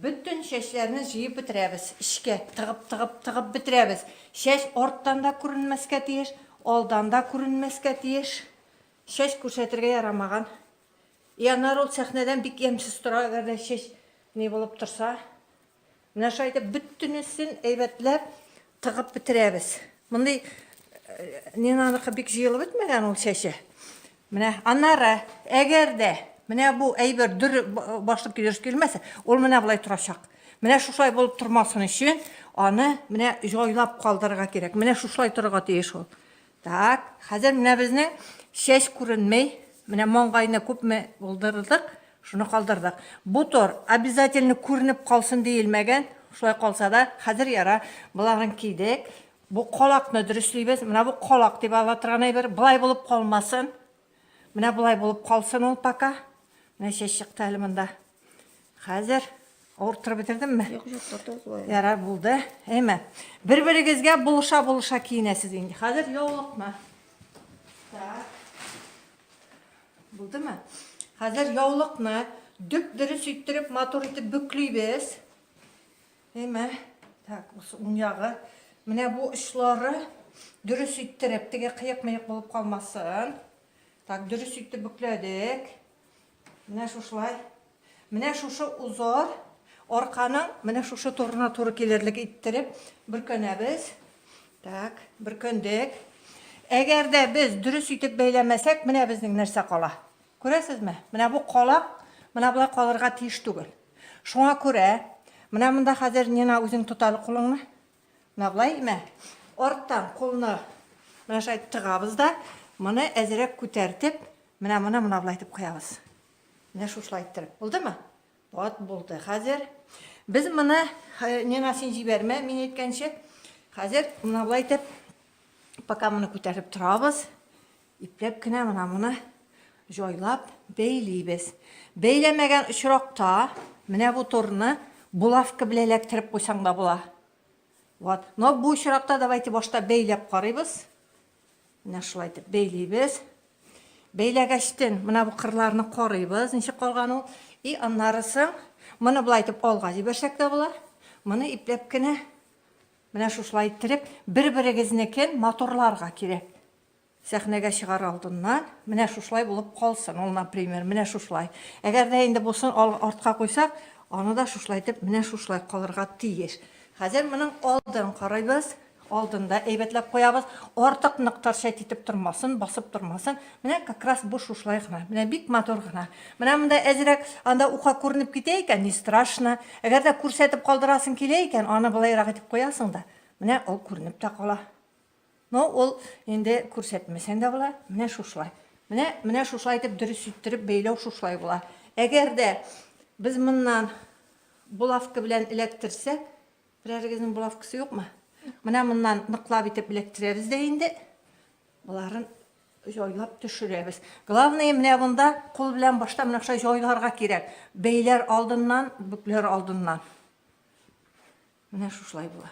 Бөтен чәчләрне җыеп бетерәбез, эчкә тыгып, тыгып, тыгып бетерәбез. Чәч арттан да күренмәскә тиеш, алдан да күренмәскә тиеш. Чәч күрсәтергә ярамаган. И анар ул сәхнәдән бик ямьсез тора, әгәр дә чәч не булып торса. Менә шулай итеп бөтенесен әйбәтләп тыгып бетерәбез. Мондый Нинаныкы бик җыелып бетмәгән ул чәче. Менә аннары, әгәр дә менә бу әйбер дөрес башлык дөрес килмәсә, ул менә болай торачак. Менә шушай булып тормасын өчен аны менә җайлап калдырырга кирәк. Менә шушай торырга тиеш ул. Так, хәзер менә безнең чәч күренмей. Менә маңгайны күпме булдырдык, шуны калдырдык. Бу тор обязательно күренеп калсын диелмәгән. Шулай калса да, хәзер яра, боларын кидек. Бу колакны дөреслибез. Менә бу колак дип ала торган әйбер. Болай булып калмасын. Менә болай булып калсын ул пока. Менә чәч чыкты әле монда. Хәзер авырттырып бетердемме? Юк, юк, тотылды. Ярар, булды. Әйме. Бер-берегезгә булыша-булыша киенәсез инде. Хәзер яулыкны. Так. Булдымы? Хәзер яулыкны дөп-дөрес иттереп, матур итеп бөклибез. Әйме, так, бусы уң ягы. Менә бу очлары дөрес иттереп, теге кыек-мыек булып калмасын. Так, дөрес итеп бүкләдек. Менә шушылай. Менә шушы узор арканың менә шушы турына туры килерлек иттереп бөркәнәбез. Так, бөркәндек. Әгәр дә без дөрес итеп бәйләмәсәк, менә безнең нәрсә кала. Күрәсезме, менә бу калак менә болай калырга тиеш түгел. Шуңа күрә, менә монда хәзер Нина үзең тот әле кулыңны. Менә болай, мә. Арттан кулны менә шулай тыгабыз да, моны әзрәк күтәртеп, менә моны менә болай итеп куябыз. Менә шушылай иттереп. Булдымы? Вот булды. Хәзер без моны Нина син җибәрмә, мин әйткәнче. Хәзер менә болай итеп пока моны күтәреп торабыз. Ипләп кенә менә моны җайлап бәйлибез. Бәйләмәгән очракта менә бу торны булавка белән эләктереп куйсаң да була. Вот. Но бу очракта давайте башта бәйләп карыйбыз. Менә шулай итеп бәйлибез. Бәйләгәчтен менә бу кырларны карыйбыз, ничек калган ул. И аннары соң моны болай итеп алга җибәрсәк тә була. Моны ипләп кенә менә шушылай иттереп бер-берегезнекен матурларга кирәк. Сәхнәгә чыгар алдыннан, менә шушылай булып калсын ул, например, менә шушылай. Әгәр дә инде бусын ал, артка куйсак, аны да шушылай итеп, менә шушылай калырга тиеш. Хәзер моның алдын карыйбыз, алдын да әйбәтләп куябыз, артык нык торчать итеп тормасын, басып тормасын. Менә как раз бу шушылай гына, менә бик матур гына. Менә монда әзрәк анда ука күренеп китә икән, не страшно. Әгәр дә күрсәтеп калдырасың килә икән, аны былайрак итеп куясың да, менә ул күренеп тә кала. Ну, ул инде күрсәтмәсәң дә була, менә шушылай. Менә, менә шушылай итеп дөрес иттереп бәйләү шушылай була. Әгәр дә без моннан булавка белән эләктерсәк, берәрегезнең булавкасы юкмы? Менә моннан ныклап итеп эләктерәбез дә инде. Боларын җайлап төшерәбез. Главное, менә монда кул белән башта менә шулай җайларга кирәк. Бәйләр алдыннан, бүкләр алдыннан. Менә шушылай була.